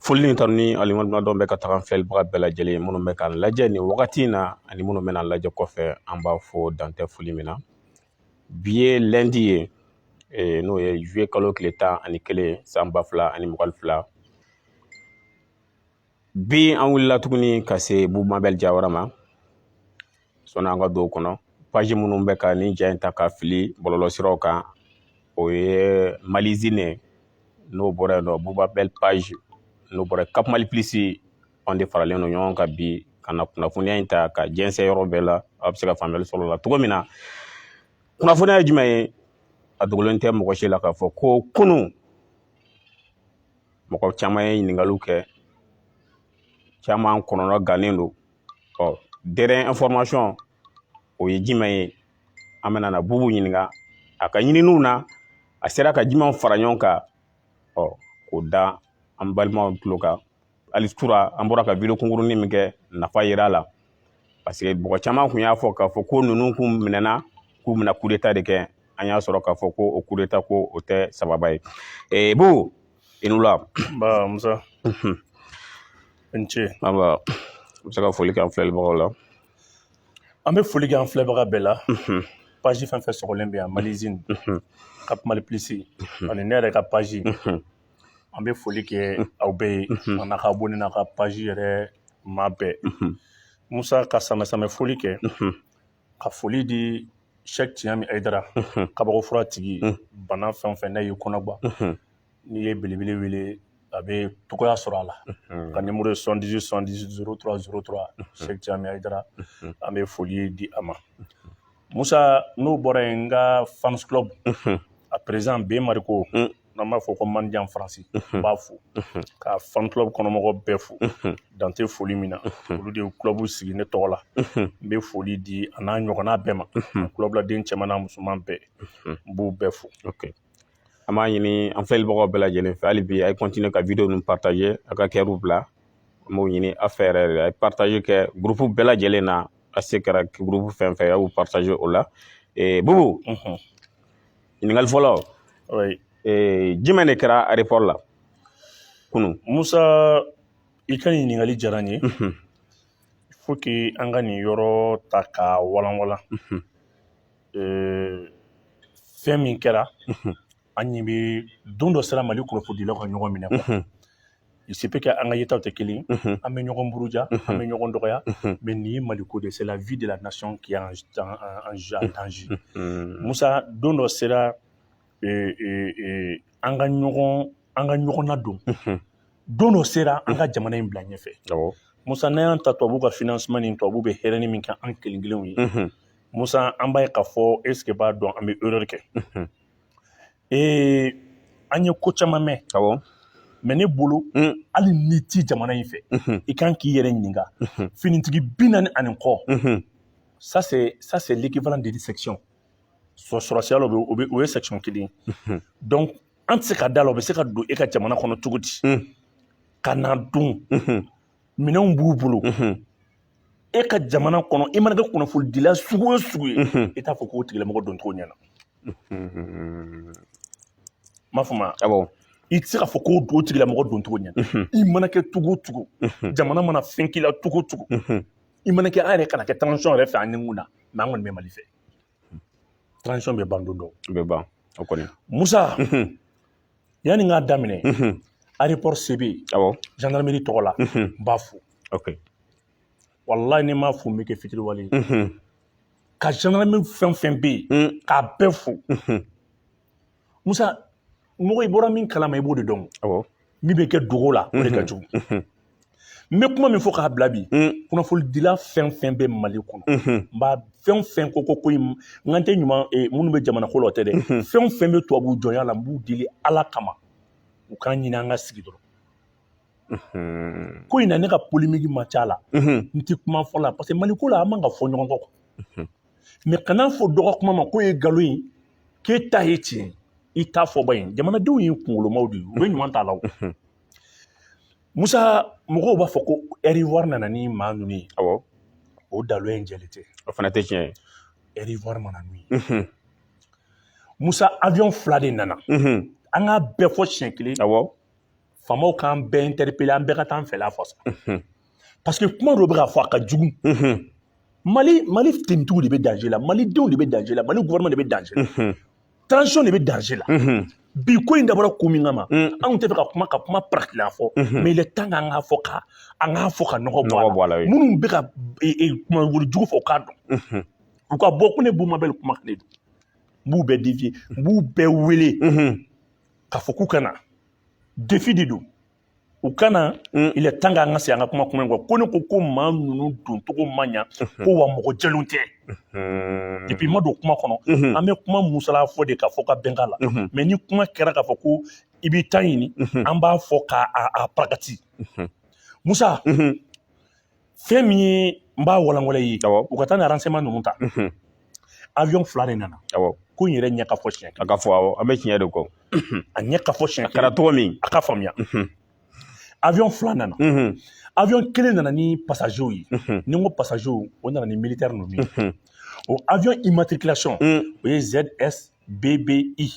foli ni tanu ni waleɲumandɔn bɛ ka taga filɛlibaga bɛɛ lajɛlen minnu bɛ k'an lajɛ nin wagati in na ani minnu bɛna an lajɛ kɔfɛ an b'a fo dan tɛ foli min na bi ye lundi ye eh, n'o ye juillet kalo tile tan ani kelen san ba fila ani mugan fila bi an wulila tuguni ka se Bubu Mabel Jawara ma sɔnni an ka don kɔnɔ page minnu bɛ ka nin ja in ta ka fili bɔlɔlɔsiraw kan o ye Malizine n'o bɔra yen nɔ Bubu Mabel page n'o bɔra Cap Mali Plus anw de faralen don ɲɔgɔn kan bi ka na kunnafoniya in ta ka jɛnsɛn yɔrɔ bɛɛ la a bɛ se ka faamuyali sɔrɔ la cogo min na kunnafoniya ye jumɛn ye a dogolen tɛ mɔgɔ si la k'a fɔ ko kunun mɔgɔ caman ye ɲininkaliw kɛ caman kɔnɔna gannen don ɔ dernière information o ye jumɛn ye an bɛna na Bubu ɲininka a ka ɲininiw na a sera ka jumɛnw fara ɲɔgɔn kan ɔ k'o da an balimaw tulo kan hali surɔ an bɔra ka video kunkurunin min kɛ nafa yera a la parce que mɔgɔ caman kun y'a fɔ k'a fɔ ko ninnu kun minɛna k'u bɛna coup d'état de kɛ an y'a sɔrɔ k'a fɔ ko o coup d'état ko o tɛ sababa ye ee Bubu i ni wula nba musa i ni ce nba i bɛ se ka foli kɛ an filɛlibagaw la an bɛ foli kɛ an filɛbaga bɛɛ la page fɛn fɛn sɔgɔlen bɛ yan Malizine Cap Mali Plus ani ne yɛrɛ ka page an bɛ foli kɛ aw bɛɛ ye a n'a ka bɔ n'a ka paji yɛrɛ maa bɛɛ musa ka samamɛ foli kɛ ka foli di sɛ tiɲɛ min adara kabako fura tigi bana fɛn fɛn ne y'i kɔnɔgba n'i ye belebele wele a bɛ togoya sɔrɔ a la ka nimuru ye sɔdi sɔdi s sɔrɔ sɛ caman adara an bɛ foli di a ma Musa n'o bɔra yen n ka fans club a président Ben Mariko n'an b'a fɔ ko Mandian Faransi n b'a fo ka fan club kɔnɔmɔgɔ bɛɛ fo dan tɛ foli min na olu de ye club sigi ne tɔgɔ la n bɛ foli di a n'a ɲɔgɔnna bɛɛ ma club laden cɛman n'a musoman bɛɛ n b'u bɛɛ fo. an b'a ɲini an filɛlibagaw bɛɛ lajɛlen fɛ hali bi a ye continuer ka video ninnu partager a ka kɛriw bila an b'o ɲini a fɛ yɛrɛ yɛrɛ a ye partager kɛ groupe bɛɛ lajɛlen na a se kɛra groupe fɛn fɛn a y'u partager o la ee bubu ɲininkali fɔlɔ ee jumɛn de kɛra aéroport la kunun musa i ka ɲininkali diyara n ye faut que an ka nin yɔrɔ ta ka walanwalan fɛn min kɛra an ɲɛ bɛ don dɔ sera mali kunnafonidilaw ka ɲɔgɔn minɛ il se peut que an ka yetaw tɛ kelen an bɛ ɲɔgɔn buruja an bɛ ɲɔgɔn dɔgɔya mais nin ye mali ko de c'est la vie de la nation qui est en, en, en, en danger musa don dɔ sera e, e, e, an ka ɲɔgɔn an ka ɲɔgɔn nadon don dɔ sera an ka jamana in bila ɲɛfɛ musa n'an y'an ta tubabu ka financement ni tubabu bɛ hɛrɛni min kɛ an kelen kelenw ye musa an b'a ye k'a fɔ est-ce que b'a dɔn an bɛ erreur kɛ ee an ye ko caman mɛn mais ne bolo mm. hali n'i ti jamana in fɛ mm-hmm. i kan k'i yɛrɛ ɲininka mm-hmm. finitigi bi naani ani kɔ mm-hmm. ça c'est ça c'est l'équivalent de section sɔrɔsiya la o bɛ o ye section kelen donc an tɛ se ka da la o bɛ se ka don e ka jamana kɔnɔ cogo di mm. ka na dun minɛnw b'u bolo e ka jamana kɔnɔ i mana kɛ kunnafonidila sugu o sugu ye i t'a fɔ k'o tigilamɔgɔ don cogo ɲɛna m'a faamuya awɔ i tɛ se k'a fɔ k'o don tigilamɔgɔ don cogo ɲɛna i mana kɛ cogo o cogo jamana mana fɛn k'i la cogo o cogo i mana kɛ an yɛrɛ kana kɛ transition yɛrɛ fɛ an ni mun na mais an kɔni bɛ mali fɛ transition bɛ ban don dɔ bɛ ban o kɔni musa yanni n k'a daminɛ aéroport CB awɔ gendarmerie tɔgɔ la n b'a fo ok walayi ni n m'a fo n bɛ kɛ fitiriwale ye ka gendarmerie fɛn o fɛn bɛ yen k'a bɛɛ fo musa mɔgɔ i bɔra min kalama i b'o de dɔn awɔ min bɛ kɛ dogo la o de ka jugu n bɛ kuma min fɔ k'a bila bi kunnafonidila fɛn fɛn bɛ mali kɔnɔ n b'a fɛn o fɛn ko ko ko in n kan tɛ ɲuman minnu bɛ jamana ko la o tɛ dɛ fɛn o fɛn bɛ tubabu jɔnya la n b'u deli ala kama u k'an ɲini an ka sigi dɔrɔn ko in na ne ka polémique ma ca la n tɛ kuma fɔ la parce que mali ko la an man ka fɔ ɲɔgɔn kɔ mais kana fɔ dɔ ka kuma ma k'o ye nkalon ye k'e ta ye tiɲɛ i ta fɔ ba in jamanadenw ye kunkolomaw de ye u bɛ ɲuman t'a la o musa mɔgɔw b'a fɔ ko air ivoire nana ni maa ninnu ye awɔ o dalo in jɛlen tɛ o fana tɛ tiɲɛ ye air ivoire ma na n'u ye mhm. musa avion fila de nana mhm. an k'a bɛɛ fɔ siɲɛ kelen awɔ faamaw k'an bɛɛ interpellé an bɛɛ ka taa an fɛla fɔ sa mhm. parce que kuma dɔ bɛ ka fɔ a ka jugu mali mali tenitigiw de bɛ danger la malidenw de bɛ danger la mali gouvernement de bɛ danger la transition de bɛ danger la bi ko in dabɔra ko min kama mm. anw tɛ fɛ ka kuma ka kuma paratila fɔ mm-hmm. mais il est temps k'an k'a fɔ ka an k'a fɔ ka nɔgɔ bɔ a la minnu bɛ ka e, e, kumawuli jugu fɔ u k'a dɔn mm-hmm. u ka bɔ ko ne bubu mabɛl kumanen don n b'u bɛɛ défier n b'u bɛɛ wele mm-hmm. k'a fɔ k'u ka na défi de don u kana mm. il est temps k'an ka segin an ka kuma kuma in kɔ ko ne ko ko maa ninnu doncogo ma ɲa mm-hmm. ko wa mɔgɔ jɛlenw tɛ mm-hmm. depuis ma don kuma kɔnɔ mm-hmm. an bɛ kuma musala fɔ de k'a fɔ ka bɛn k'a la mais ni kuma kɛra k'a fɔ ko i b'i ta ɲini an b'a fɔ k'a a parakati musa fɛn min ye n b'a walanwalan i ye u ka taa ni renseignement ninnu ta awiyɔn fila de nana ko n yɛrɛ ɲɛ ka fɔ tiɲɛ a ka fɔ awɔ an bɛ tiɲɛ de kɔ a ɲɛ ka fɔ tiɲɛ a kɛra cogo min a ka faamuya awiyɔn fila nana awiyɔn kelen nana ni pasazew ye ni n ko pasazew o nana ni militɛri ninnu ye o awiyɔn immatriculation o ye ZS BBI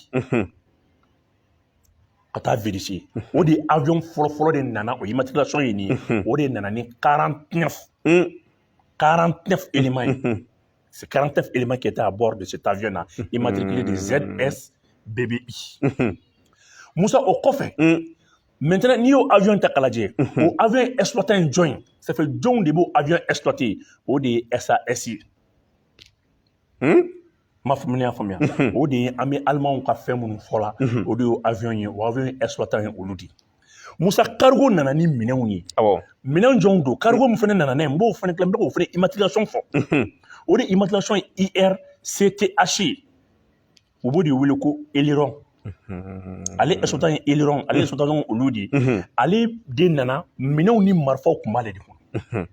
ka taa vérifier o de ye avion fɔlɔ fɔlɔ de nana o immatriculation ye nin ye o de nana ni 49 éléments ye c'est 49 éléments qui étaient à bord de cet avion là immatriculé de ZS BBI Moussa o kɔfɛ maintenant n'i y'o avion ta k'a lajɛ o avion exploitant ye jɔn ye ça fait jɔnw de b'o avion exploité o de ye SAS ye m'a faamuya y'a faamuya o de ye an bɛ alimanw ka fɛn minnu fɔ la o de ye avion ye o avion exploitant ye olu di musa cargo nana ni minɛnw ye minɛn jɔnw don cargo min fana nana n'a ye n b'o fana kila n bɛ k'o fana immatriculation fɔ o de immatriculation ye UR CTH ye u b'o de wele ko Eleron ale exploitant ye Eleron ale exploitant olu de ye ale de nana minɛnw ni marifaw tun b'ale de kɔnɔ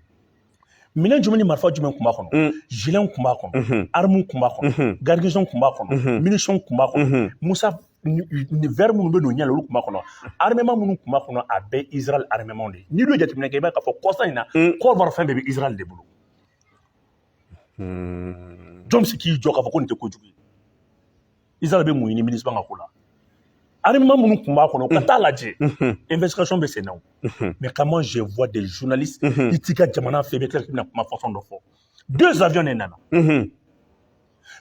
minɛn jumɛn ni marifa jumɛn kun b'a kɔnɔ mm. giletw kun b'a kɔnɔ mm-hmm. armes kun b'a kɔnɔ mm-hmm. garnison kun b'a kɔnɔ mm-hmm. munitions kun b'a kɔnɔ musa ni verre minnu bɛ n'o ɲɛ la olu kun b'a kɔnɔ armement minnu kun b'a kɔnɔ a bɛɛ Israël armementw de ye n'i dun ye jateminɛ kɛ i b'a ye k'a fɔ kɔsa in na mm. Côte d'Ivoire fɛn bɛɛ bɛ Israël de bolo jɔn bɛ se k'i jɔ k'a fɔ ko nin tɛ kojugu ye Israël bɛ mun ɲini MINUSMA ka ko la armement minnu tun b'a kɔnɔ ka taa lajɛ investigation bɛ sen na o mais comment je vois des journalistes i t'i ka jamana fɛ i bɛ tila k'i bɛna kuma façon dɔ fɔ deux avions de nana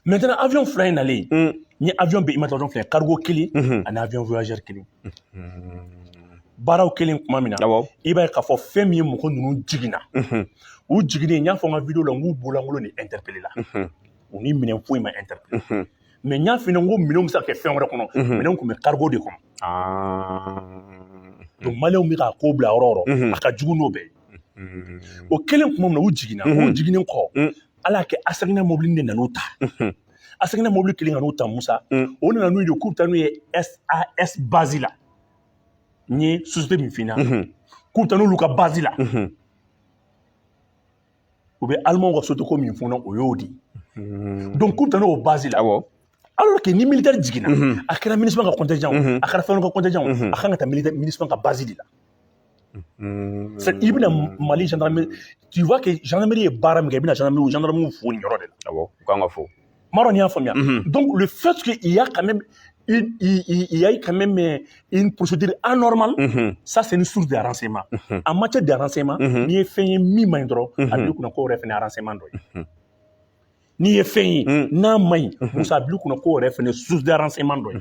maintenant avion fila in nalen ni avion bɛɛ immatriculation filɛ cargo kelen ani avion voyageur kelen baaraw kɛlen tuma min na i b'a ye k'a fɔ fɛn min ye mɔgɔ ninnu jiginna u jiginnen n y'a fɔ n ka video la n k'u bololankolon de interpellé la u ni minɛn foyi ma interpellé mais n y'a f'i ɲɛna n ko minɛnw bɛ se ka kɛ fɛn wɛrɛ kɔnɔ minɛnw tun bɛ cargo de kɔnɔ donc maliyɛnw bɛ k'a ko bila yɔrɔ o yɔrɔ a ka jugu n'o bɛɛ ye o kɛlen tuma min na u jiginna u jiginnen kɔ ala y'a kɛ ASECNA mobili de nan'u ta ASECNA mobili kɛlen ka n'u ta musa o nana n'u ye k'u bɛ taa n'u ye SAS base la n ye société min f'i ɲɛna k'u bɛ taa n'olu ka base la u bɛ alimanw ka société ko min fɔ o y'o de ye donc k'u bɛ taa n'o base la awɔ alors que ni militaire jiginna a kɛra MINUSMA ka contingent a kɛra fɛn ka contingent a kan ka taa MINUSMA ka base de la i bɛna mali gendarmerie tu vois que gendarmerie ye baara min kɛ i bɛna gendarmerie gendarmerie fo nin yɔrɔ de la awɔ u kan ka fo Mɔrɔ y'a faamuya don olu fɛn sigi i y'a ka yayi ka mɛ mɛ i psidi an nɔma sa sen ni su diyara sen ma a ma cɛ diyara sen ma n'i ye fɛn ye min ma in dɔrɔn a bɛ kunna ko yɛrɛ fana ara sema dɔ ye n'i ye fɛn ye n'a ma ɲi musa bi kunna ko yɛrɛ fana su diyara sema dɔ ye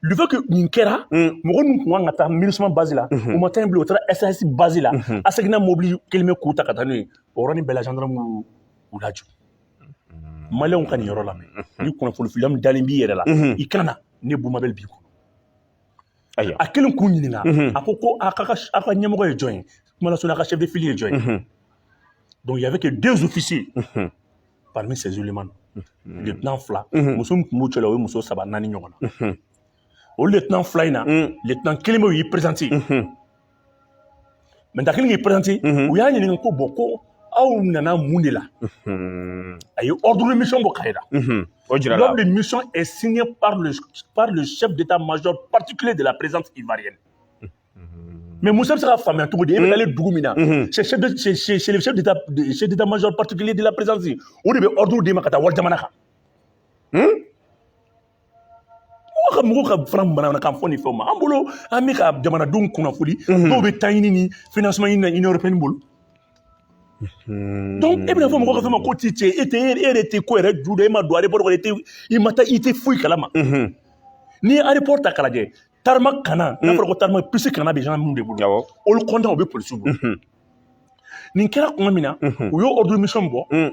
duke nin kɛra mɔgɔ min tun kan ka taa miuman basi la u ma taa in bila u taara ɛssisi basi la a seginna mɔbili kelen bɛ k'u ta ka taa n'o ye o yɔrɔ ni bɛɛla dɔrɔn u laj maliyɛnw ka nin yɔrɔ lamɛn ni kunnafoni filiya min dalen b'i yɛrɛ la i kana na ne Bubu Mabɛli b'i kɔnɔ ayiwa a kelen k'u ɲininka a ko ko a ka aw ka ɲɛmɔgɔ ye jɔn ye kuma lasurunya a ka chef de file ye jɔn ye donc il y avait que deux officiers parmi ces éléments lieutenant fila muso min tun b'u cɛla o ye muso saba naani ɲɔgɔn na o lieutenant fila in na lieutenant kelenpe y'i présenter Mɛ da kelen k'i pɛrɛnti u y'a ɲininka ko bɔn ko aw nana mun de la a ye awdu mi bɔ ka la o jira bɛ mi ɛ sini sɛ bɛ taa maj pati kelen de la perez mari mɛ muso bɛ se ka faamuya cogo di e bɛ dugu min na maj pati kelen de la perezsi o de bɛ awdu d'i ma ka taa wari jamana kan Mɔgɔ ka mɔgɔw ka fara bamanankan fɔ ni fɛnw ma an bolo an bɛ ka jamanadenw kunnafoni dɔw bɛ taa ɲini ni financement ɲini na Union européenne bolo donc e bɛna fɔ mɔgɔ ka fɛn ma ko ti cɛ e tɛ e yɛrɛ tɛ ko yɛrɛ ju dɔn e ma don aéroport kɔnɔ e tɛ i ma taa i tɛ foyi kalama n'i ye aéroport ta k'a lajɛ tarmac kan n'a fɔra ko tarmac piste kan a bɛ gendarme de bolo awɔ le comptoir o bɛ polisiw bolo nin kɛra tuma min na u y'o ordre de mission bɔ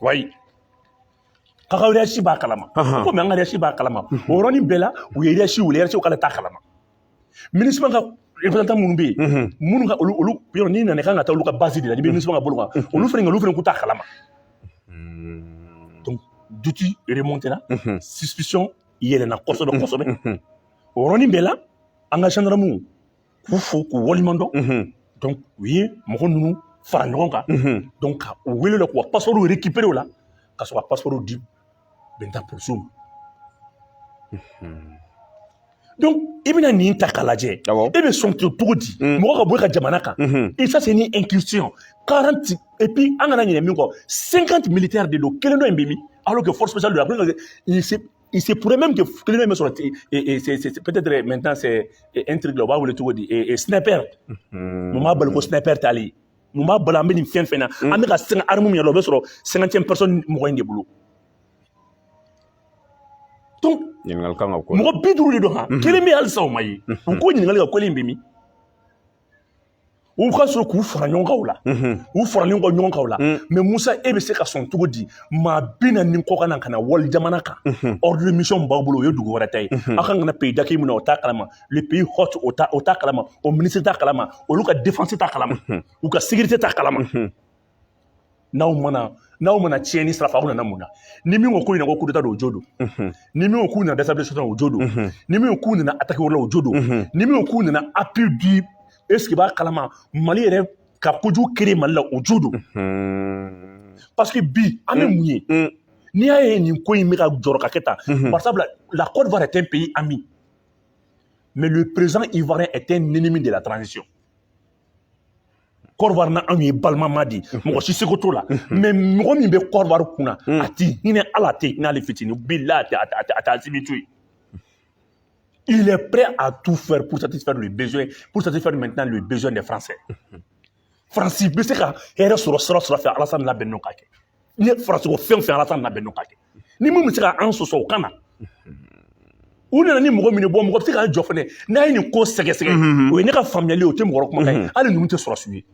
oui k'a ka hiérarchie b'a kalama ko mais an ka hiérarchie b'a kalama o yɔrɔnin bɛɛ la u ye hiérarchie wele hiérarchie k'ale t'a kalama MINUSMA ka représentant minnu bɛ yen minnu ka olu olu yɔrɔ n'i nana kan ka taa olu ka base de la n'i bɛ MINUSMA ka bolo kan olu fana olu fana k'u t'a kalama donc doute remonte la suspicion yɛlɛnna kosɛbɛ kosɛbɛ o yɔrɔnin bɛɛ la an ka gendarmew k'u fo k'u waleɲuman dɔn donc u ye mɔgɔ ninnu fara ɲɔgɔn kan donc ka u wele la k'u ka passeportw récupérer o la ka sɔrɔ ka passeportw di maintenant polisiw ma donc i bɛna nin ta k'a lajɛ e bɛ sɔn cogo di mɔgɔ ka bɔ e ka jamana kan et ça c'est une incursion 40 et puis an kana ɲinɛ min kɔ 50 militaires de don kelen dɔ in bɛ min alors que force spéciale don a bɛ ka Il se pourrait même que kelen min bɛ sɔrɔ peut-être maintenant c'est un truc là u b'a wele cogo di sniper mun b'a bali ko sniper t'a la mun b'a bali an bɛ nin fɛn fɛn na an bɛ ka sɛgɛn arme yɛrɛ o bɛ sɔrɔ cinquantième personne mɔgɔ in de bolo mɔgɔ bi duuru de don kelen bɛ halisa o ma ye u ko ɲininkali ka ko in bɛ min u ka sɔrɔ k'u fara ɲɔgɔn kan o la u faralen kɔ ɲɔgɔn kan o la mais musa e bɛ se ka sɔn cogo di maa bi naani kɔ ka na ka na wali jamana kan ordre de mission b'a bolo o ye dugu wɛrɛ ta ye aw kan ka na pays d'accueil min na o t'a kalama le pays hôte o t'a kalama o minisiri t'a kalama olu ka défense t'a kalama u ka sécurité t'a kalama n'aw ma na n'aw ma na tiɲɛni sira fɛ aw nana mun na ni min ko k'u nana ko kudeta don o jo don ni min ko k'u nana déstabilisation o jo don ni min ko k'u nana attaque wɛrɛ la o jo don ni min ko k'u nana appui du est-ce que b'a kalama mali yɛrɛ ka kojugu créer mali la o jo don parce que bi an bɛ mun ye n'i y'a ye nin ko in bɛ ka jɔrɔ ka kɛ tan bari sabula la côte d'ivoire est un pays ami mais le président ivoirien est un ennemi de la transition kɔrɔwari na anw ye balimama de ye mɔgɔ si seko t'o la mais mɔgɔ min bɛ kɔrɔwari kun na a ti hinɛ ala tɛ hinɛ ale fitini bila a tɛ a tɛ asimi to yen il est prêt à tout faire pour satisfaire le besoin pour satisfaire maintenant le besoin des français faransi bɛ se ka hɛrɛ sɔrɔ sira o sira fɛ alasani labɛn n'o ka kɛ ni faransi ko fɛn fɛn alasani labɛn n'o ka kɛ ni mun bɛ se ka an sɔsɔ o kan na u nana ni mɔgɔ min ye mɔgɔ bɛ se ka jɔ fana n'a ye nin ko sɛgɛsɛgɛ o ye ne ka faamuyali o tɛ mɔgɔ kuma ye hali ninnu tɛ sɔrɔsi ye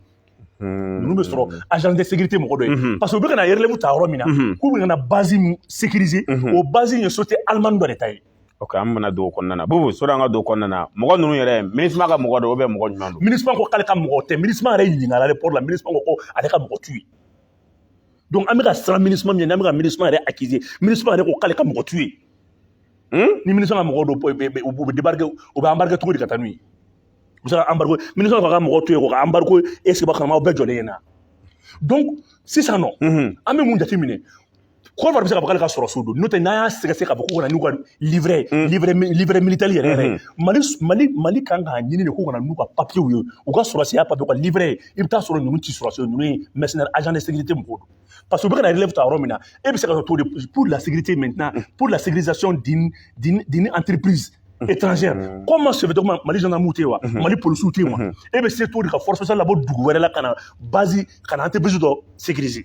ninnu bɛ sɔrɔ agent de sécurité mɔgɔ dɔ ye parce que u bɛ ka na relève ta yɔrɔ min na k'u bɛ ka na base min sécuriser o base in ye société allemande dɔ de ta ye ok an bɛna don o kɔnɔna na bobo sɔrɔ an ka don o kɔnɔna na mɔgɔ ninnu yɛrɛ minusma ka mɔgɔ dɔ ou bien mɔgɔ jumɛn don minusma ko k'ale ka mɔgɔ tɛ minusma yɛrɛ ɲininkala aéroport la minusma ko ko ale ka mɔgɔ t'u ye donc an bɛ ka siran minusma min ɲɛ n'an bɛ ka minusma yɛrɛ accuser minusma yɛrɛ ko k'ale ka mɔgɔ t'u ye ni minusma ka mɔgɔ don u bɛ débarquer u bɛ embarquer cogo di ka taa n'u ye u bɛ se ka embarquer minusma ka mɔgɔ t'u ye k'u ka embarquer est-ce que b'a kalama aw bɛɛ jɔlen ɲɛna donc sisan nɔ an bɛ mun jateminɛ kɔrɔwari bɛ se k'a fɔ k'ale ka sɔrɔsiw don n'o tɛ n'an y'a sɛgɛsɛgɛ k'a fɔ k'u ka na n'u ka livret mm. livret livret militaire yɛrɛ yɛrɛ mm-hmm. mali mali mali kan k'a ɲini de k'u ka na n'u ka papiyew ye u ka sɔrɔsiya papiye u ka livret ye i bɛ taa sɔrɔ ninnu ti sɔrɔsi ye ninnu ye mercenaire agent de sécurité mɔgɔw don parce que u bɛ ka na relève ta yɔrɔ min na e bɛ se ka to de pour la sécurité maintenant mm. pour la sécurisation d'une d'une d'une entreprise mm-hmm. étrangère mm-hmm. comment se fait comment mali gendarmew tɛ yen wa mali policiw tɛ yen wa e bɛ se to de ka force spéciale labɔ dugu wɛrɛ la ka na base ka na entreprise dɔ sécuriser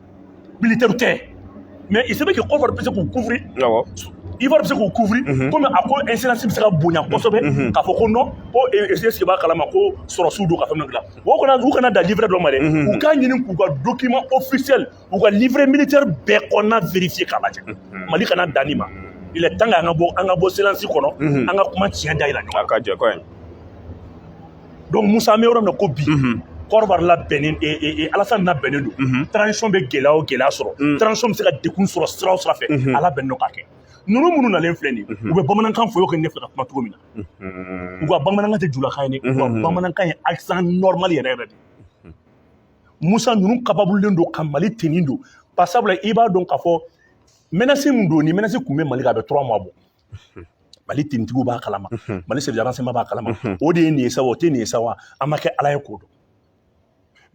militaire tɛ mais il se peut que Côte d'Ivoire bɛ se k'u couvrir awɔ Ivoire bɛ se k'u couvrir komi a ko incidence bɛ se ka bonya kosɛbɛ k'a fɔ ko non ko est ce que b'a kalama ko sɔrɔsiw don ka fɛn dɔ dilan o kana u kana dan livret dɔ ma dɛ u k'a ɲini k'u ka document officiel u ka livret militaire bɛɛ kɔnɔna vérifier k'a lajɛ Mali kana dan nin ma il est temps que an ka bɔ an ka bɔ silence kɔnɔ an ka kuma tiɲɛ da yira ɲɔgɔn na a ka jɛ kɔɲɛ donc musa an bɛ yɔrɔ min na ko bi Côte d'Ivoire labɛnnen e, e, e, alasani labɛnnen don mhm. transition bɛ gɛlɛya o gɛlɛya sɔrɔ mm. transition bɛ se ka degun sɔrɔ sira o sira fɛ mhm. a labɛnnen don k'a kɛ ninnu minnu nalen filɛ nin mhm. u bɛ bamanankan fɔ i ko ne bɛ ka kuma cogo min na u ka bamanankan tɛ julakan ye dɛ u ka bamanankan ye accent normal yɛrɛ yɛrɛ de musa ninnu kababulen don ka mali tenue don pasabula i b'a dɔn k'a fɔ menace min don ni menace tun bɛ mali kan a bɛ trois mois bɔ mali tenitigiw b'a kalama mali service de renseignement b'a kalama o de ye nin ye sa o tɛ nin ye sa wa an ma kɛ ala ye k'o dɔn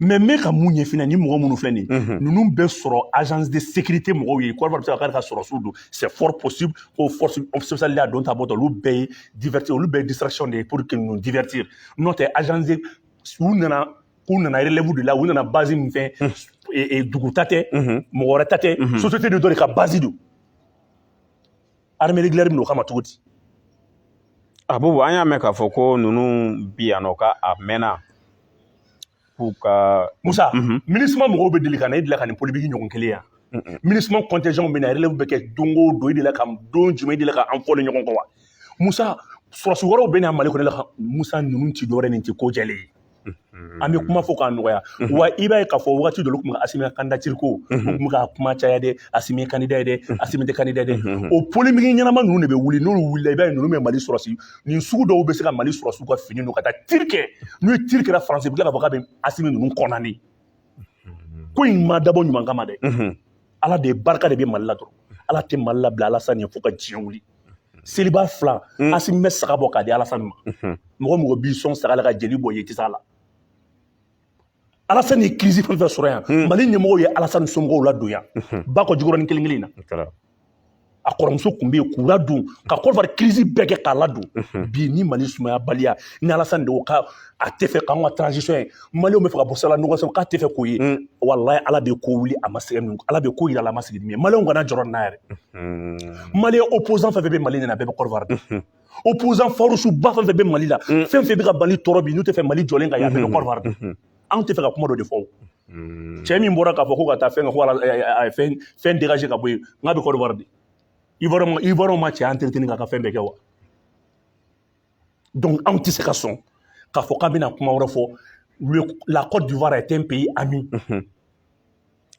mais n bɛ ka mun ɲɛfɔ la nin mɔgɔ minnu filɛ nin ye ninnu bɛ sɔrɔ agence de sécurité mɔgɔw ye Côte d'Ivoire bɛ se ka k'ale ka sɔrɔsiw don c'est fort possible ko force spéciale y'a don ta bɔtɔ olu bɛɛ ye divertir olu bɛɛ ye distraction de ye pour que ninnu divertir n'o tɛ agence de u nana k'u nana relève de la u nana base min fɛ dugu ta tɛ mɔgɔ wɛrɛ ta tɛ société de dɔ de ka base don armée régulière min o kama cogo di abubu an y'a mɛn k'a fɔ ko ninnu bi yan nɔ ka a mɛnna k'u ka musa mhm. MINUSMA mɔgɔw bɛ deli ka na e deli ka nin polémique ɲɔgɔn kelen yan MINUSMA contingent bɛ na relève bɛ kɛ don o don e deli ka don jumɛn e deli ka an fɔlen ɲɔgɔn kɔ wa musa sɔrɔsi wɛrɛw bɛ na mali kɔnɔ la musa ninnu ti dɔwɛrɛ nin ti ko jɛlen ye an bɛ kuma fɔ k'a nɔgɔya wa i b'a ye k'a fɔ waati dɔ olu tun bɛ asimi ka candidature ko u tun ka kuma caya dɛ asimi candidat ye dɛ asimi tɛ candidat ye dɛ o polémique ɲɛnama ninnu de bɛ wuli n'olu wulila i b'a ye ninnu bɛ mali sɔrɔsi nin sugu dɔw bɛ se ka mali sɔrɔsiw ka fini don ka taa tir kɛ n'u ye tir kɛ la France bɛ tila k'a fɔ k'a bɛ asimi ninnu kɔnɔ nin ko in ma dabɔ ɲuman kama dɛ ala de barika de bɛ mali la dɔrɔn ala tɛ mali labila alasani ye fo ka diɲɛ wuli seliba fila mm. asimi bɛ saga bɔ k'a di alasani ma mm-hmm. mɔgɔ mɔgɔ b'i sɔn saga la ka jeli bɔ ye i tɛ s'a la alasani ye crise fɛn fɛn sɔrɔ yan mm. mali ɲɛmɔgɔw ye alasani somɔgɔw ladon yan mm-hmm. bakɔ jikɔrɔnin kelen kelen in na a kɔrɔmuso tun bɛ yen k'u ladon ka Côte d'Ivoire crise bɛɛ kɛ k'a ladon bi ni mali sumayabaliya ni alasani de ko k'a tɛ fɛ k'an ka transition ye maliw bɛ fɛ ka bɔ sala nɔgɔ sɔrɔ k'a tɛ fɛ k'o ye walayi ala bɛ ko wuli a ma sɛgɛn min ala bɛ ko yira a la a ma sigi min ye maliw kana jɔrɔ n'a yɛrɛ mali opposant fɛn fɛn bɛ mali ɲɛna bɛɛ bɛ Côte d'Ivoire dɔn opposant farouche ba fɛn fɛn bɛ mali la fɛn fɛn bɛ ka mali tɔɔrɔ bi n'u tɛ fɛ mali jɔlen ka yan bɛɛ bɛ Côte d'Ivoire dɔn anw tɛ fɛ ka kuma dɔ de fɔ hmm. cɛ min bɔra k'a fɔ ko ka taa fɛn ka ko a ye fɛn fɛn dégager ka bɔ yen nk'a bɛ Côte d'Ivoire de Ivoirien ma cɛ entretenir k'a ka fɛn bɛɛ kɛ wa donc anw tɛ se ka sɔn k'a fɔ k'an bɛna kuma wɛrɛ fɔ la Côte d'Ivoire est un pays ami. Mm -hmm.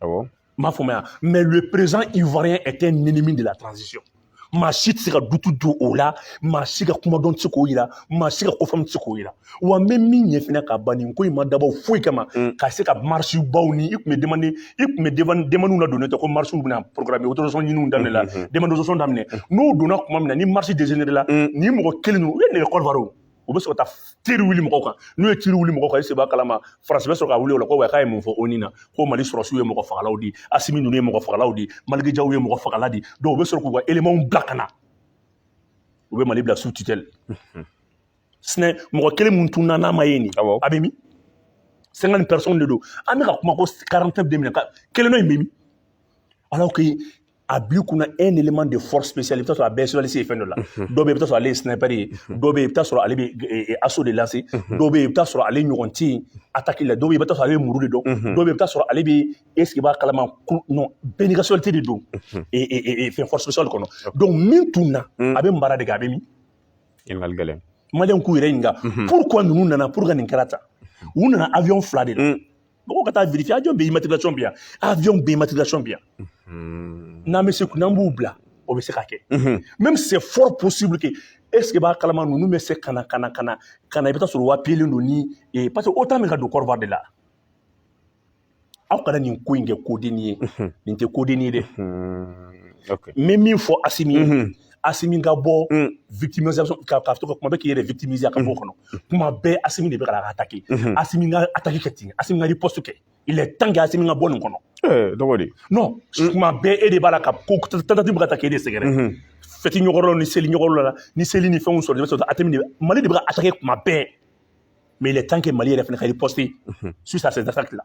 Awɔ. M'a faamuya mais le président ivoirien est un ennemi de la transition maa si tɛ se ka doute don o la maa si ka kumadɔn tɛ se k'o yira maa si ka kofaamu tɛ se k'o yira wa n bɛ min ɲɛ fana ka ban nin ko in ma dabɔ foyi kama mm. ka se ka marche baw ni i tun bɛ demande i tun bɛ demandew ladonnen tɛ ko marchew bɛna programme autorisation ɲiniw daminɛ la mm-hmm. demande autorisation daminɛ mm. n'o donna tuma min na ni marche dégénéré la mm. nin mɔgɔ kelen ninnu u ye nɛgɛ Côte d'Ivoire u bɛ sɔrɔ ka tir wuli mɔgɔw kan n'u ye tir wuli mɔgɔw kan est-ce i b'a kalama France bɛ sɔrɔ ka wuli o la ko wa k'a ye mun fɔ ONU na ko mali sɔrɔsiw ye mɔgɔ fagalaw di asimi ninnu ye mɔgɔ fagalaw di Maliki Jaw ye mɔgɔ fagala di donc u bɛ sɔrɔ k'u ka éléments bila ka na u bɛ mali bila sous tutelle sinon mɔgɔ kelen min tununna n'a ma ye nin a bɛ min cinquante personnes de don an bɛ ka kuma ko quarante-neuf minɛna kelen dɔ in bɛ min alors que a b'i kunna un élément de force spéciale i bɛ t'a sɔrɔ a bɛɛ spécialisé fɛn dɔ la dɔw bɛ yen i bɛ t'a sɔrɔ ale ye sniper ye dɔw bɛ yen i bɛ t'a sɔrɔ ale bɛ assaut de lancer dɔw bɛ yen i bɛ t'a sɔrɔ ale ɲɔgɔn tɛ yen attaque la dɔw bɛ yen i bɛ t'a sɔrɔ ale bɛ muru de dɔn dɔw bɛ yen i bɛ t'a sɔrɔ ale bɛ est-ce que i b'a kalama non bɛɛ n'i ka spécialité de don fɛn force spéciale kɔnɔ donc min tununna a bɛ mara de kɛ a bɛ min ɲininkali gɛlɛn Maliyɛnw k'u yɛrɛ ɲininka pourquoi ninnu nana pourquoi nin kɛra tan u nana avion fila de la mɔgɔw ka taa vérifier avion bɛɛ immatriculation bɛ yan avion bɛɛ immatriculation bɛ yan n'an bɛ se n'an b'u bila o bɛ se ka kɛ même c'est fort possible que est-ce que b'a kalama ninnu bɛ se ka na ka na ka na ka na i bɛ taa sɔrɔ wapiyelen don ni ee parce que o tun bɛ ka don Côte d'Ivoire de la aw kana nin ko in kɛ kodenni ye nin tɛ kodenni ye dɛ n bɛ min fɔ asimi ye Asimi ka bɔ mm. victimisation ka ka to ka kuma bɛɛ k'i yɛrɛ victimiser ka bɔ mm. kɔnɔ kuma bɛɛ Asimi de bɛ ka attaquer mm-hmm. Asimi ka attaque kɛ ten Asimi ka riposte kɛ il est temps que Asimi ka bɔ nin kɔnɔ eh, dɔgɔ de non mm. kuma bɛɛ e de b'a la ka ko tentative bɛ ka taa k'e de sɛgɛrɛ mm-hmm. fête ɲɛkɔrɔ ni seli ɲɛkɔrɔla ni seli ni fɛnw sɔrɔ de bɛ sɔrɔ Asimi de Mali de bɛ ka attaquer kuma bɛɛ mais il est temps que Mali yɛrɛ fana ka riposter mm-hmm. suite à ces attaques là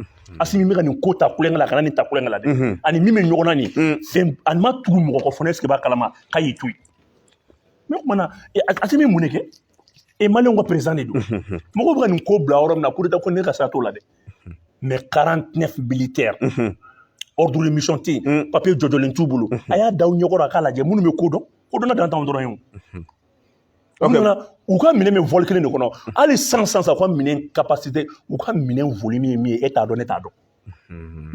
Mm-hmm. Asimi bɛ ka nin ko ta tulonkɛ la kana nin ta tulonkɛ la dɛ mm-hmm. ani min bɛ ɲɔgɔn na nin mm. fɛn ani ma tugu mɔgɔ kɔ fana est-ce que b'a kalama k'a y'i to yen mais o tuma na Asimi mun de kɛ e maliyɛnw ka président de don mm-hmm. mɔgɔw bɛ ka nin ko bila yɔrɔ min na coup d'état ko ne ka sira t'o la dɛ mais 49 militaires ordre de mission tɛ yen papier jɔnjɔn t'u bolo a y'a da u ɲɛkɔrɔ a k'a lajɛ minnu bɛ ko dɔn ko dɔnna dantanw dɔrɔn ye o u nana u ka minɛn bɛ vol kelen de kɔnɔ hali san san san u ka minɛn capacité u ka minɛn volume ye min ye e t'a dɔn ne t'a dɔn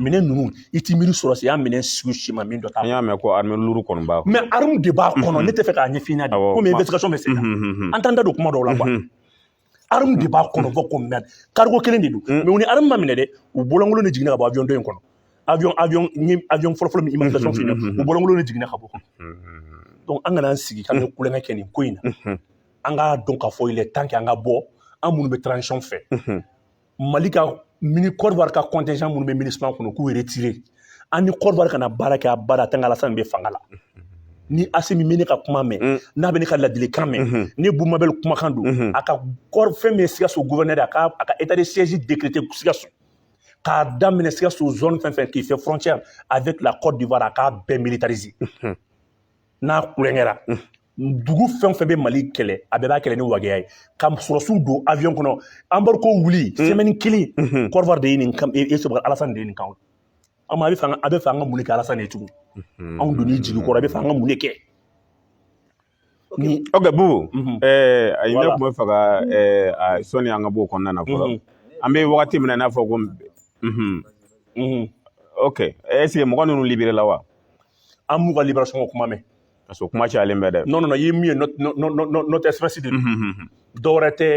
minɛn ninnu i t'i miiri sɔrɔsiya minɛn sugu si ma min dɔ t'a an y'a mɛn ko arme lourde kɔni b'a kɔnɔ mais arme de b'a kɔnɔ ne t'a fɛ k'a ɲɛf'i ɲɛna de komi investigation bɛ sen na an t'an da don kuma dɔw la quoi arme de b'a kɔnɔ bon comme cargo kelen de don mais u ni arme ma minɛ dɛ u bolokolon de jiginna ka bɔ avion dɔ in kɔnɔ avion avion ni avion fɔlɔfɔlɔ min immatriculation filɛ u bolokolon de jiginna ka bɔ donc an kana an sigi ka tulonkɛ kɛ nin ko in na an k'a dɔn k'a fɔ il est temps que an ka bɔ an minnu bɛ transition fɛ mali ka mini Côte d'Ivoire ka contingent minnu bɛ MINUSMA kɔnɔ k'u retirer an ni Côte d'Ivoire kana baara kɛ abada tant alasan bɛ fanga la ni asimi bɛ ne ka kuma mɛn mm. n'a bɛ ne ka ladilikan mɛn mm-hmm. ni bumabɛli kumakan don mm-hmm. a ka fɛn min ye sikaso guvɛnɛri a ka a ka état de siège décréter sikaso k'a daminɛ sikaso zone fɛn fɛn qui fait frontière avec la Côte d'Ivoire a k'a bɛɛ militariser mm-hmm. n'a kulonkɛra dugu fɛn o fɛn bɛ mali kɛlɛ a bɛɛ b'a kɛlɛ ni wagɛya ye ka sɔrɔsiw don avion kɔnɔ embargo wuli sɛmɛni kelen Côte d'Ivoire de ye nin kan e sɔrɔ alasani de ye nin kan an a bɛ fɛ an ka a bɛ fɛ an ka mun de kɛ alasani ye tugun anw donn'i jigi kɔrɔ a bɛ fɛ an ka mun de kɛ ok bubu a ye ne tun bɛ fɛ ka sɔni an ka bɔ o kɔnɔna na fɔlɔ an bɛ wagati min na i n'a fɔ ko ok ɛseke mɔgɔ ninnu liberela wa an m'u ka liberasɔn ko kuma mɛn Parce que kuma cayalen bɛ dɛ. Non non i ye min ye note express de don. Dɔ wɛrɛ tɛ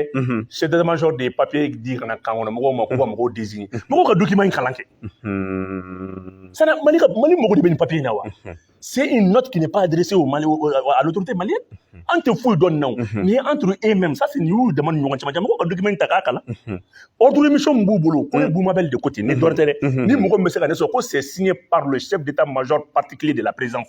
chef d'état major de ye papier di ka na camp kɔnɔ mɔgɔw ma k'u ka mɔgɔw désigner mɔgɔw ka document in kalan kɛ. C'est à dire Mali ka Mali mago de bɛ nin papier in na wa? C'est une note qui n'est pas adressée au Mali à l'autorité malienne. An tɛ foyi dɔn nin na o. Nin ye entre eux mêmes ça c'est nin y'u dama ni ɲɔgɔn cɛmancɛ mɔgɔw ka document in ta k'a kalan. Ordre de mission min b'u bolo ko ye Boumabel de ko ten ni dɔ wɛrɛ tɛ dɛ. Ni mɔgɔ min bɛ se ka ne sɔrɔ ko c'est signé par le chef d'état major particulier de la présidence.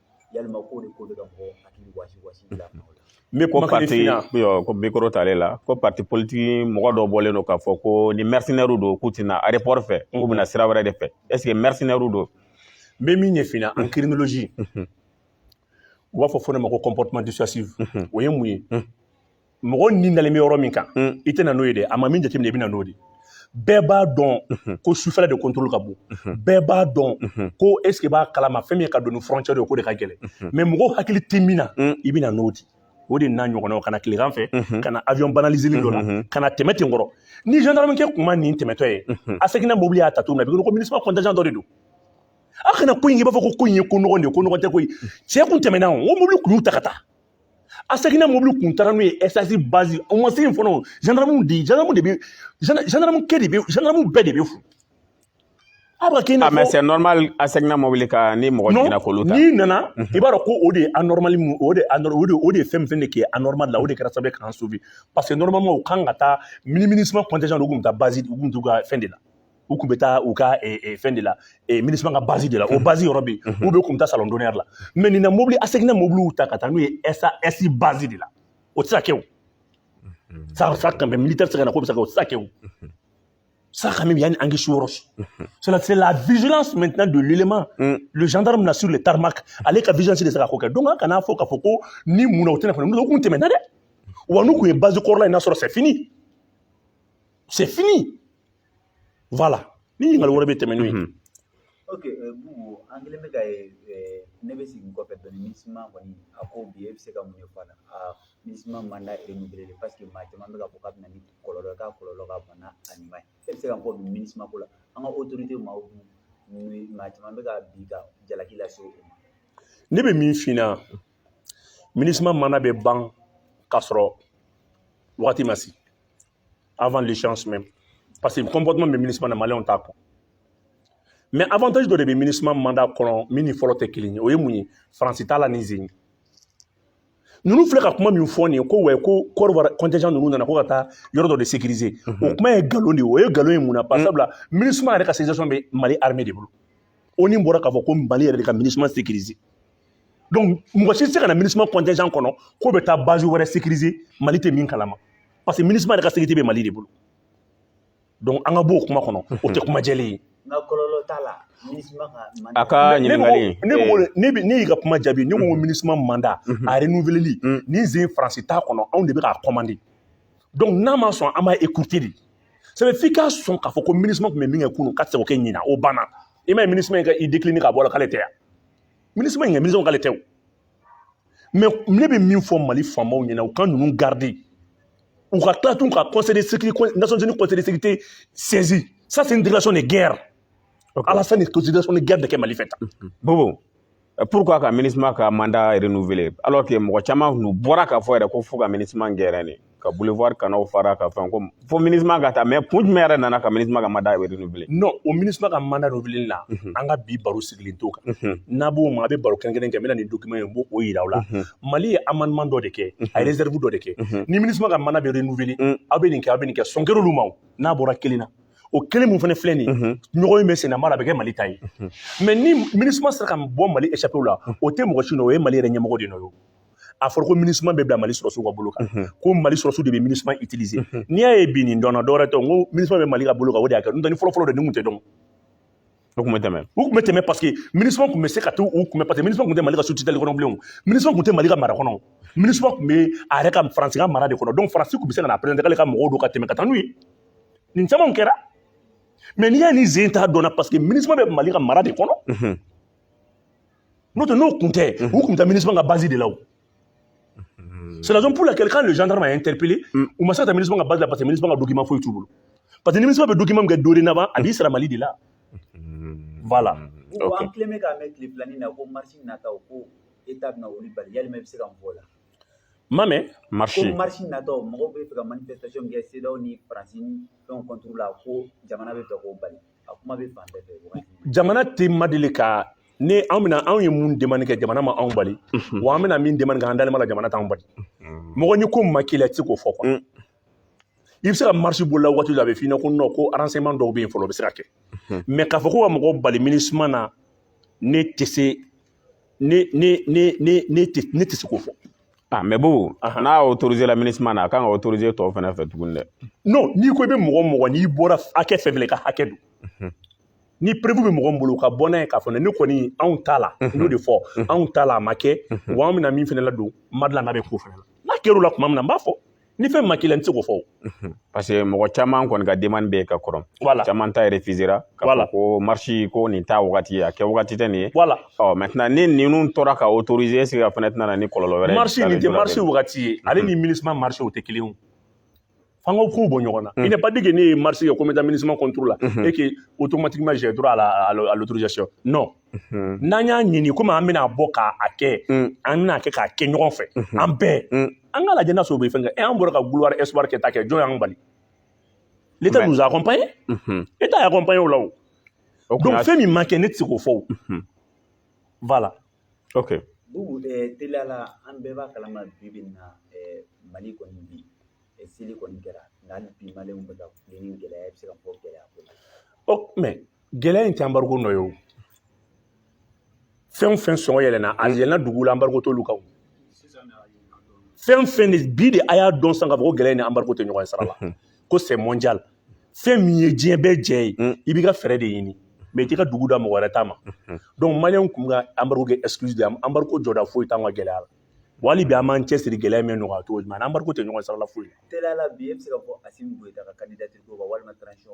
yalima ko de ko bɛ ka mɔgɔ hakili wasi wasi bila nɔ la n bɛ kuma pati ko micro t'ale la ko pati politiki mɔgɔ dɔ bɔlen don k'a fɔ ko ni mɛrisinɛriw don k'u tɛna aéroport fɛ k'u bɛna sira wɛrɛ de fɛ ɛseke mɛrisinɛriw don n bɛ min ɲɛf'i na en criminologie u b'a fɔ fɔ ne ma ko comportement dissuasif o ye mun ye mɔgɔ ni dalen bɛ yɔrɔ min kan mm. i tɛna n'o ye dɛ a ma min jateminɛ i bɛna n'o de bɛɛ b'a dɔn mhm. ko sufɛla de contrôle ka bon mhm. bɛɛ b'a dɔn mhm. ko est ce que b'a kalama fɛn min ka don ni frontière ye k'o de ka gɛlɛn mais mɔgɔw hakili tɛ min na mm. i bɛna n'o di o de n'a ɲɔgɔnnaw ka na tilegan fɛ ka na avion banaliselen dɔ la ka na tɛmɛ ten kɔrɔ ni gendarmekɛ kun ma nin tɛmɛtɔ ye ASECNA mobili y'a ta cogo min na bi ko MINUSMA contingent dɔ de don a kana ko in k'i b'a fɔ ko ko in ye ko nɔgɔn de ye ko nɔgɔn tɛ koyi cɛ kun tɛmɛna o mobili kun y'u ta ka taa ASECNA mobili kun taara n'u ye SAS bazi o ma se yen fɔlɔ zandamu de zandamu de bɛ zandamu kɛ de bɛ zandamu bɛɛ de bɛ fo a bɛ kɛ i n'a fɔ c'est normal ASECNA mobili kan ni mɔgɔ jiginna k'olu ta n'i nana i b'a dɔn ko o de ye anormal mu o de o de o de ye fɛn fɛn de kɛ anormal la o de kɛra sababu ye k'an sauver parce que normalement u kan ka taa mini MINUSMA contingent de u kun bɛ taa bazi u kun t'u ka fɛn de la u tun bɛ taa u ka eh, eh, fɛn de la eh, MINUSMA ka base de la o base yɔrɔ bɛ yen u bɛ kun bɛ taa salon d'honneur la mais nin na mobili a seginna mobiliw ta ka taa n'u ye SAS base de la o tɛ se ka kɛ o ça ça quand même militaire tɛ se ka na k'o bɛ se ka kɛ o tɛ se ka kɛ o ça quand même y a une anguille sous roche c'est la- c'est la vigilance maintenant de l'élément le gendarme na sur le tarmac ale ka vigilance de se ka ko kɛ donc an kana fɔ k'a fɔ ko ni mun na u tɛna fana n'u kun tɛmɛna dɛ wa n'u kun ye base kɔrɔla in nasɔrɔ c'est fini c'est fini Voilà. Ni ɲininkali wɛrɛ bɛ tɛmɛ n'o ye. Ok Bubu an kɛlen bɛ ka ne bɛ segin kɔfɛ dɔɔni MINUSMA kɔni a ko bi e bɛ se ka mun de fɔ a la aa MINUSMA mandat renouveleli parce que maa caman bɛ k'a fɔ k'a bɛ na ni kɔlɔlɔ ye k'a kɔlɔlɔ ka bon n'a ɲuman ye e bɛ se ka mun fɔ bi MINUSMA ko la an ka autorité maaw ni maa caman bɛ ka bi ka jalaki lase u ma. Ne bɛ min f'i ɲɛna MINUSMA mandat bɛ ban k'a sɔrɔ wagati ma se. avant l'échéance même parce que comportement bɛ MINUSMA na maliyɛnw t'a kɔ mais avantage dɔ de bɛ MINUSMA mandat kɔnɔ min ni fɔlɔ tɛ kelen ye o ye mun ye faransi t'a la nin sen in ninnu filɛ ka kuma min fɔ nin ye ko wɛ ko côte d'ivoire contingent ninnu nana ko ka taa yɔrɔ dɔ de sécuriser o kuma ye nkalon de ye o ye nkalon ye mun na parce sabula MINUSMA yɛrɛ ka sécurisation bɛ mali armée de bolo ONU bɔra k'a fɔ ko mali yɛrɛ de ka MINUSMA sécuriser donc mɔgɔ si tɛ se ka na MINUSMA contingent kɔnɔ k'o bɛ taa base wɛrɛ sécuriser mali tɛ min kalama parce que MINUSMA yɛrɛ ka sécurité bɛ mali de bolo donc an ka b'o kuma kɔnɔ o tɛ kuma jɛlen ye a ka ɲininkali ne y'i ka kuma jaabi ne ko mm. MINUSMA mandat mm-hmm. a renouveleli mm. nin sen faransi t'a kɔnɔ anw de bɛ k'a commander donc n'a ma sɔn an b'a écourter de sabu f'i ka sɔn k'a fɔ ko MINUSMA tun bɛ min kɛ kunun k'a tɛ se k'o kɛ ɲinan o banna i m'a ye MINUSMA in ka i décliner k'a bɔ a la k'ale tɛ yan MINUSMA ɲɛ MINUSMA k'ale tɛ o mais ne bɛ min fɔ mali faamaw ɲɛna u ka ninnu garder u ka tila tun ka conseil de sécurité nations unies conseil de sécurité saisir ça c'est une déclaration de guerre okay. alassane ye déclaration de guerre de kɛ mali fɛ tan bubu pourquoi ka MINUSMA ka mandat renouveler alors que mɔgɔ caman tun bɔra k'a fɔ yɛrɛ ko fo ka MINUSMA gɛrɛ ne ka boulevard kɔnɔ fara ka fɛn ko fo MINUSMA ka taa mais kun jumɛn yɛrɛ nana ka MINUSMA ka mandat renouveler non o MINUSMA ka mandat renouveler la an ka bi baro sigilen t'o kan n'a b'o ma a bɛ baro kɛrɛnkɛrɛn kɛ n bɛna nin document in n b'o o yira aw la mali ye amendement dɔ de kɛ a ye réserve dɔ de kɛ ni MINUSMA ka mandat bɛ renouveler aw bɛ nin kɛ aw bɛ nin kɛ sɔn kɛr'olu ma n'a bɔra kelen na o kelen min fana filɛ nin ye ɲɔgɔn in bɛ senna mara a bɛ kɛ mali ta ye mais ni MINUSMA sera ka bɔ mali échappé la o tɛ mɔgɔ si nɔ o ye mali yɛrɛ ɲɛmɔgɔ de nɔ ye a fɔra ko minusma bɛ bila mali sɔrɔsiw ka bolo kan mhm. ko mali sɔrɔsiw de bɛ minusma utiliser mhm. n'i y'a ye bi nin dɔnna dɔwɛrɛ tɛ n ko minusma bɛ mali ka bolo kan o de y'a kɛ n'o tɛ ni fɔlɔfɔlɔ de nin tun tɛ dɔn u tun bɛ tɛmɛ u tun bɛ tɛmɛ parce que minusma tun bɛ se ka t'u kunbɛn parce que minusma tun tɛ mali ka sous-tutelle kɔnɔ bilen minusma tun tɛ mali ka mara kɔnɔ minusma tun bɛ a yɛrɛ ka faransi ka mara de kɔnɔ donc faransi tun bɛ se ka na présenter k'ale ka mɔgɔw don ka tɛmɛ ka taa n'u ye nin camanw kɛra mais n'i y'a ni zen t'a dɔnna parce que minusma bɛ mali ka mara de kɔnɔ n'o tɛ n'o kun tɛ u kun bɛ taa minusma ka base de la o c'est la raison pour laquelle quand le gendarme a interpellé mm. u ma se ka taa minusma ka base la parce que minusma ka document foyi t'u bolo parce que minusma bɛ document min kɛ dorénavant a b'i sara mali de la mm-hmm. voilà mm-hmm. okay. an tilen bɛ k'a mɛn tile filanin na ko marche nataw ko état bɛna olu bali yalima i bɛ se ka mun fɔ o la ma mɛn marche ko marche nataw mɔgɔw bɛ fɛ ka manifestation kɛ cedeao ni faransi ni fɛnw contre la ko jamana bɛ fɛ k'o bali jamana tɛ ma deli ka ne anw bɛna anw ye mun demande kɛ jamana ma anw bali wa an bɛna min demande kɛ an dalen b'a la jamana t'anw bali mɔgɔ ni ko ma k'i la i tɛ se k'o fɔ quoi i bɛ se ka marche bolola waati la a bɛ f'i ɲɛna ko non ko arrangement dɔw bɛ yen fɔlɔ o bɛ se ka kɛ mais k'a fɔ ko ka mɔgɔ bali minusma na ne tɛ se ne ne ne ne ne tɛ ne tɛ se k'o fɔ ah mais bubu n'a autorisé la minusma na a kan ka autorisé tɔw fana fɛ tuguni dɛ non n'i ko i bɛ mɔgɔ mɔgɔ n'i bɔra hakɛ fɛn fɛn ka hakɛ don mhm. ni preuve bɛ mɔgɔ min bolo ka bɔ n'a ye k'a fɔ ne kɔni anw t'a la mhm. n y'o de fɔ mhm. anw t'a la a ma kɛ wa an bɛna min fana ladon mairie la n'a bɛ k'o fana la n'a kɛr'o la tuma min na n b'a fɔ ni fɛn ma k'i la n tɛ se k'o fɔ parce que mɔgɔ caman kɔni ka demande bɛ ka kɔrɔ voilà caman ta refusera k'a fɔ ko marche ko nin t'a wagati ye a kɛ wagati tɛ nin ye voilà ɔ maintenant ni ninnu tora ka autoriser est-ce que a fana tɛna na ni kɔlɔlɔ wɛrɛ ye marche nin tɛ marche wagati ye ale ni minusma marche o tɛ kelen ye f'an ka kow bɔ ɲɔgɔn na il n'est pas dit que ne ye marche kɛ ko n bɛ taa minusma contre la et que automatiquement j'ai droit à l'autorisation non n'an y'a ɲini komi an bɛna bɔ k'a kɛ an bɛna kɛ k'a kɛ ɲɔgɔn fɛ an bɛɛ an ka lajɛ n'a sɔrɔ o bɛ fɛn kɛ an bɔra ka gloire espoir kɛ ta kɛ jɔn y'an bali l'état nous a accompagnés état y'a accompagné o la o donc fɛn min ma kɛ ne tɛ se k'o fɔ o voilà ok teliya la an bɛɛ b'a kalama bi bi in na mali kɔni bi seli kɔni kɛra nka hali bi maliyɛnw bɛ ka kule ni gɛlɛya i bɛ se ka fɔ gɛlɛya ko la mais gɛlɛya in tɛ embargo nɔ ye o fɛn o fɛn sɔngɔ yɛlɛnna a yɛlɛnna dugu la embargo t'olu kan o fɛn fɛn de bi de a y'a dɔn sisan k'a fɔ ko gɛlɛya ni embargo tɛ ɲɔgɔn sira la ko c'est mondial fɛn min ye diɲɛ bɛɛ jɛ ye i b'i ka fɛɛrɛ de ɲini mais i t'i ka dugu da mɔgɔ wɛrɛ ta ma donc maliyɛnw kun ka embargo kɛ excuse de embargo jɔda foyi t'an ka gɛlɛya la wa hali bi an b'an cɛsiri gɛlɛya min nɔgɔya cogo jumɛn embargo tɛ ɲɔgɔn sira la foyi la teliya la bi e bɛ se ka fɔ assimi goïta ka candidature ko kan walima transition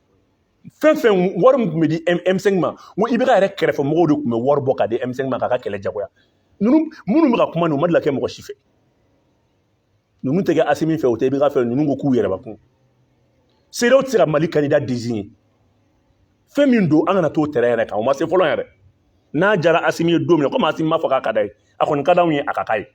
fɛn fɛn wari min tun bɛ di M5 ma n ko IBK yɛrɛ kɛrɛfɛ mɔgɔw de tun bɛ wari bɔ ka di M5 ma k'a ka kɛlɛ jagoya ninnu minnu bɛ ka kuma nin u ma deli ka kɛ mɔgɔ si fɛ ninnu tɛ kɛ Asimi fɛ u tɛ IBK fɛ ninnu ko k'u yɛrɛbakun CEDEAO tɛ se ka Mali candidat désigner fɛn min don an kana t'o terrain yɛrɛ kan o ma se fɔlɔ yɛrɛ n'a jara Asimi ye don min na komi Asimi m'a fɔ k'a ka d'a ye a kɔni ka d'anw ye a ka k'a ye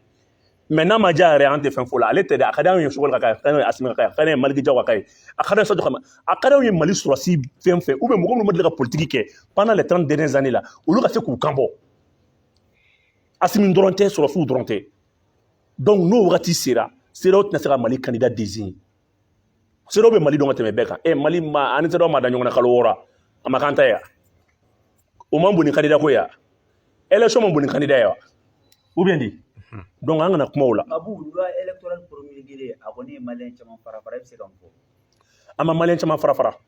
mais n'a ma diya yɛrɛ an tɛ fɛn fɔ la ale tɛ dɛ a ka d'anw ye Choguel ka k'a ye a ka d'anw ye Asimi ka k'a ye a ka d'anw ye Maliki Jaw ka k'a ye a ka d'anw ye Sadio Kamara a ka d'anw ye mali sɔrɔsi fɛn fɛn ou bien mɔgɔ minnu ma deli ka politiki kɛ pendant les 30 dernières années la olu ka se k'u kan bɔ asimi dɔrɔn tɛ sɔrɔsiw dɔrɔn tɛ donc n'o wagati sera CEDEAO tɛna se ka mali candidat désigner CEDEAO bɛ mali dɔn ka tɛmɛ bɛɛ kan e mali ma ani CEDEAO ma da ɲɔgɔn na kalo wɔɔrɔ a ma kan ta ya o man bon ni candidat ko ya élection man bon ni candidat ya ou bien di donc an kana kuma o la abu loi électorale promulguée a kɔni ye maliyɛn caman fara fara i bɛ se ka mun fɔ an ma maliyɛn caman fara fara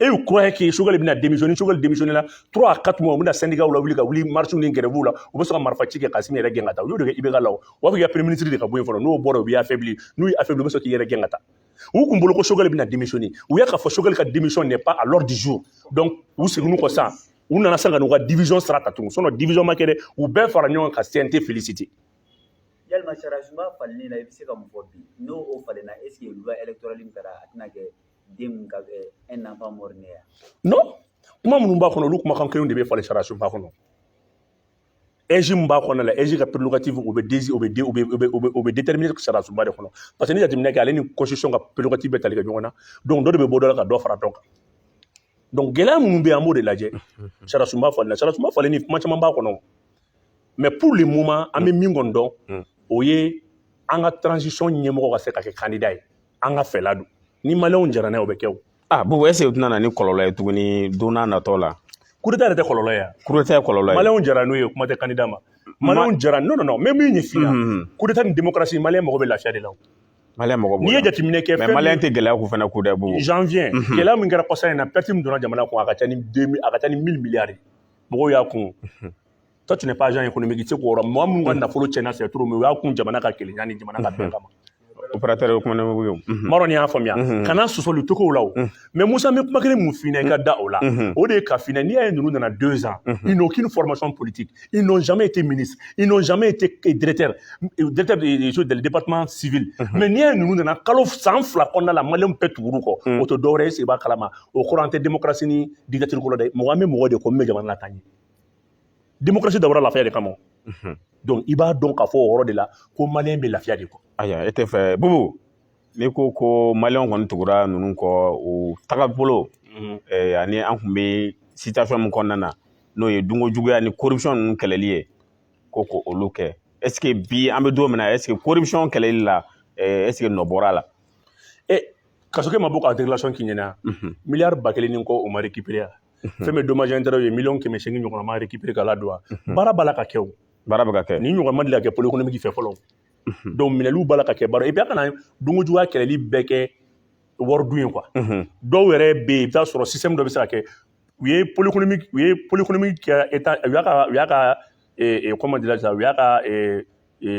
et ils croyaient que Choguel bɛna démissionner Choguel démissionner la trois quatre mois u bɛna syndicats lawuli ka wuli marches ni grèves la u bɛ sɔn ka marifa ci kɛ ka Asimi yɛrɛ gɛn ka taa u y'o de kɛ IBK la o b'a fɔ k'i ka premier ministre de ka bɔ yen fɔlɔ n'o bɔra u b'i affaiblir n'u y'i affaiblir u bɛ sɔn k'i yɛrɛ gɛn ka taa u kun bolo ko Choguel bɛna démissionner u y'a k'a fɔ Choguel ka démission n'est pas à l'ordre du jour donc u seginn'u kɔ sisan u nana sisan ka n'u ka division sira ta tugun sinon division ma kɛ dɛ u bɛɛ fara ɲɔgɔn kan ka CNT féliciter yalima sariyasunba falenni la i bɛ se ka mun fɔ bi n'o o falenna est ce que loi électorale min kɛra a tɛna kɛ den ka kɛ un enfant mort né ya non kuma minnu b'a kɔnɔ olu kumakan kelenw de bɛ falen sariyasunba kɔnɔ AIGE min b'a kɔnɔ la AIGE ka prérogative o bɛ dezi o bɛ de o bɛ o bɛ o bɛ o bɛ déterminer sariyasunba de kɔnɔ parce que ni jateminɛ kɛ ale ni constitution ka prérogative bɛ tali kɛ ɲɔgɔn na donc dɔ de bɛ bɔ dɔ la ka dɔ fara dɔ kan donc gɛlɛya minnu bɛ yen an b'o de lajɛ sariyasunba falen na sariyasunba falenni kuma caman b'a kɔnɔ mais pour le moment an bɛ min kɔni dɔn o ye an ka transition ɲɛmɔgɔ ka se ka kɛ candidat ye an ka fɛla don ni maliyɛnw jara n'a ye o bɛ kɛ o a Bubu est ce que o tɛna na ni kɔlɔlɔ ye tuguni don nataw la coup d'état yɛrɛ tɛ kɔlɔlɔ ye coup d'état ye kɔlɔlɔ ye maliyɛnw jara n'o ye kuma tɛ candidat ma maliyɛnw jara n'o non n bɛ min ɲɛf'i ye coup d'état ni démocratie maliyɛn mago bɛ lafiya de la maliyɛn mago b'o la n'i ye jateminɛ kɛ mais maliyɛn tɛ gɛlɛya k'u fana ko dɛ bon janvier gɛlɛya min kɛra kɔsa in na perte min donna jamana kun a ka ca ni a ka ca ni mille milliards mɔgɔw y'a kun toi tu n'es pas agent économique i tɛ se k'o yɔrɔ mɔgɔ minnu ka nafolo tiɲɛna c'est trop mais u y'a kun jamana ka kelenya ni jamana ka bɛn kama opérateur économique ye n m'a dɔn n'i y'a faamuya kana sɔsɔli tokow la o mais Musa n bɛ kuma kelen min f'i ɲɛ i ka da o la o de ye k'a f'i ɲɛ n'i y'a ye ninnu nana deux ans ils n'ont aucune formation politique ils n'ont jamais été ministre ils n'ont jamais été directeur directeur de chose des départements civils mais n'i y'a ye ninnu nana kalo san fila kɔnɔna la maliyɛnw bɛɛ tugur'u kɔ o tɛ dɔwɛrɛ ye sigi b'a kalama o kɔrɔ an tɛ démocratie ni dictature ko la dɛ mɔgɔ an bɛ mɔgɔ de kɔ min bɛ jamana lataa ɲɛ démocratie dabɔra lafiya de kama o. Unhun. Donc i b'a dɔn k'a fɔ o yɔrɔ de la ko maliyɛn bɛ lafiya de kɔ. Ayiwa e tɛ fɛ Bubu n'i ko ko maliyɛnw kɔni tugura ninnu kɔ u tagabolo eh, ani an tun bɛ situation min kɔnɔna na n'o ye dunko juguya ni corruption ninnu kɛlɛli ye ko ko olu kɛ est ce que bi an bɛ don min na est ce que corruption kɛlɛli la eh, est ce que nɔ bɔra a la. E Kasoge ma bɔ ka déclaration k'i ɲɛna Unhun. miliyari ba kelen ni kɔ o ma récupérer a. fɛn bɛ dommages intérêts ye miliyɔn kɛmɛ seegin ɲɔgɔn ma récupérer ka ladon wa baara b'a la ka kɛ o baara bɛ ka kɛ ni ɲɔgɔn ma deli ka kɛ pôle économique fɛ fɔlɔ donc minɛliw b'a la ka kɛ baara et puis a kana dunko juguya kɛlɛli bɛɛ kɛ wari dun ye quoi dɔw yɛrɛ bɛ yen i bɛ t'a sɔrɔ système dɔ bɛ se ka kɛ u ye pôle économique u ye pôle économique kɛ u y'a ka u y'a ka comment dirais-je sisan u y'a ka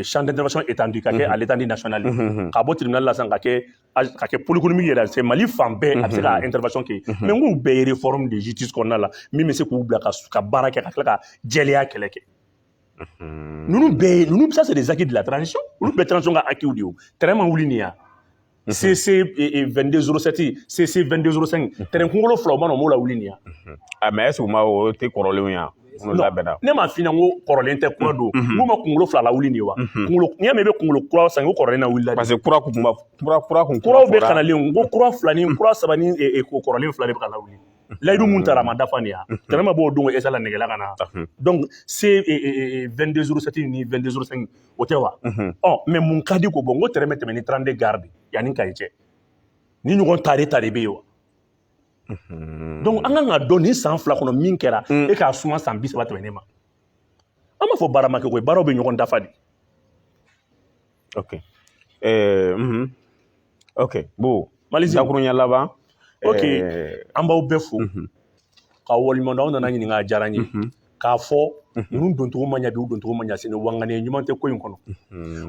champ d'intervention étendu ka kɛ à l'étendue nationale ka bɔ tribunal la sisan ka kɛ ka kɛ pôle économique yɛrɛ c'est Mali fan bɛɛ a bɛ se ka intervention kɛ mais n k'u bɛɛ ye réforme de justice kɔnɔna la min bɛ se k'u bila ka baara kɛ ka tila ka jɛlenya kɛlɛ kɛ ninnu bɛɛ ye ninnu ça c'est des acquis de la transition olu bɛɛ transition ka acquis de ye o train ma wuli nin ya CC 22 07 CC 22 05 train kunkolo fila o ma na o m'o lawuli nin ya a mais est ce que u ma o tɛ kɔrɔlenw ye wa minnu labɛnna ne m'a f'i ɲɛna ko kɔrɔlen tɛ kura don n k'u ma kunkolo fila lawuli nin ye wa kunkolo n'i y'a mɛn i bɛ kunkolo kura san ko kɔrɔlen na wulila de parce que kura kun ma kura kura kun kuraw bɛ kanalen ko kura fila ni kura saba ni eh, eh, ko kɔrɔlen fila de bɛ ka lawuli layidu mun tara a ma dafa nin ya train ma bɔ o don ko esala negela ka na donc C eh, eh, eh, 22 07 ni 22 05 o tɛ wa ɔ mais mun ka di ko bon ko train bɛ tɛmɛ ni trente-deux gares de yan ni Kayi cɛ ni ɲɔgɔn tare tare bɛ yen wa donc an kan ka dɔn nin san fila kɔnɔ min kɛra e k'a suma san bi saba tɛmɛnen ma an b'a fɔ baara ma kɛ koyi baaraw bɛ ɲɔgɔn dafa de ok ɛɛ ok bon mali dakuruɲa laban ok eh, an b'aw bɛɛ fo mhm. ka waleɲuman dɔn aw nana ɲininka a diyara n ye mhm. k'a fɔ mhm. ninnu doncogo man ɲa bi u doncogo man ɲa sini wa ŋaniya ɲuman tɛ ko in kɔnɔ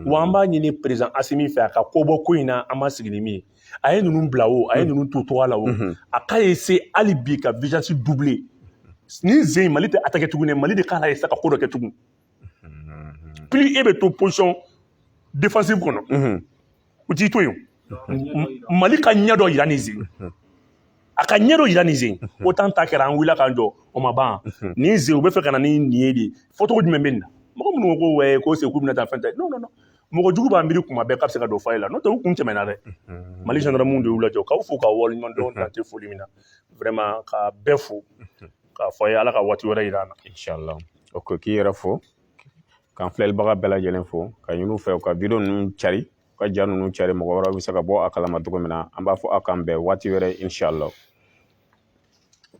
wa an b'a ɲini président asimi fɛ a ka ko bɔ ko in na an ma sigi ni min ye a ye ninnu bila o a ye ninnu to togoya la o a k'a essayer hali bi ka vigilance doubler nin sen mali tɛ attaquer tuguni mali de k'a essayer ka ko dɔ kɛ tugun plus e bɛ to position defensive kɔnɔ u t'i to yen mali ka ɲɛ dɔ yira nin sen a ka ɲɛ dɔ yira nin sen OTAN ta kɛra an wulila k'an jɔ o ma ban nin sen u bɛ fɛ ka na ni nin ye de fɔcogo jumɛn bɛ nin na mɔgɔ minnu ko ko ouais ko c'est k'u bɛna taa fɛn tɛ non non non mɔgɔ jugu b'a miiri kuma bɛɛ k'a bɛ se ka don fa la n'o tɛ u kun tɛmɛna dɛ mali gendarmew de y'u lajɔ k'aw fo k'aw waleɲuman dɔn dan tɛ foli min na vraiment ka bɛɛ fo k'a fɔ a ye ala ka waati wɛrɛ yira an na inchallah ok k'i yɛrɛ fo k'an filɛlibaga bɛɛ lajɛlen fo ka ɲini u fɛ u ka vidéo ninnu cari u ka ja ninnu cari mɔgɔ wɛrɛw bɛ se ka bɔ a kalama cogo min na an b'a fɔ aw k'an bɛn waati wɛrɛ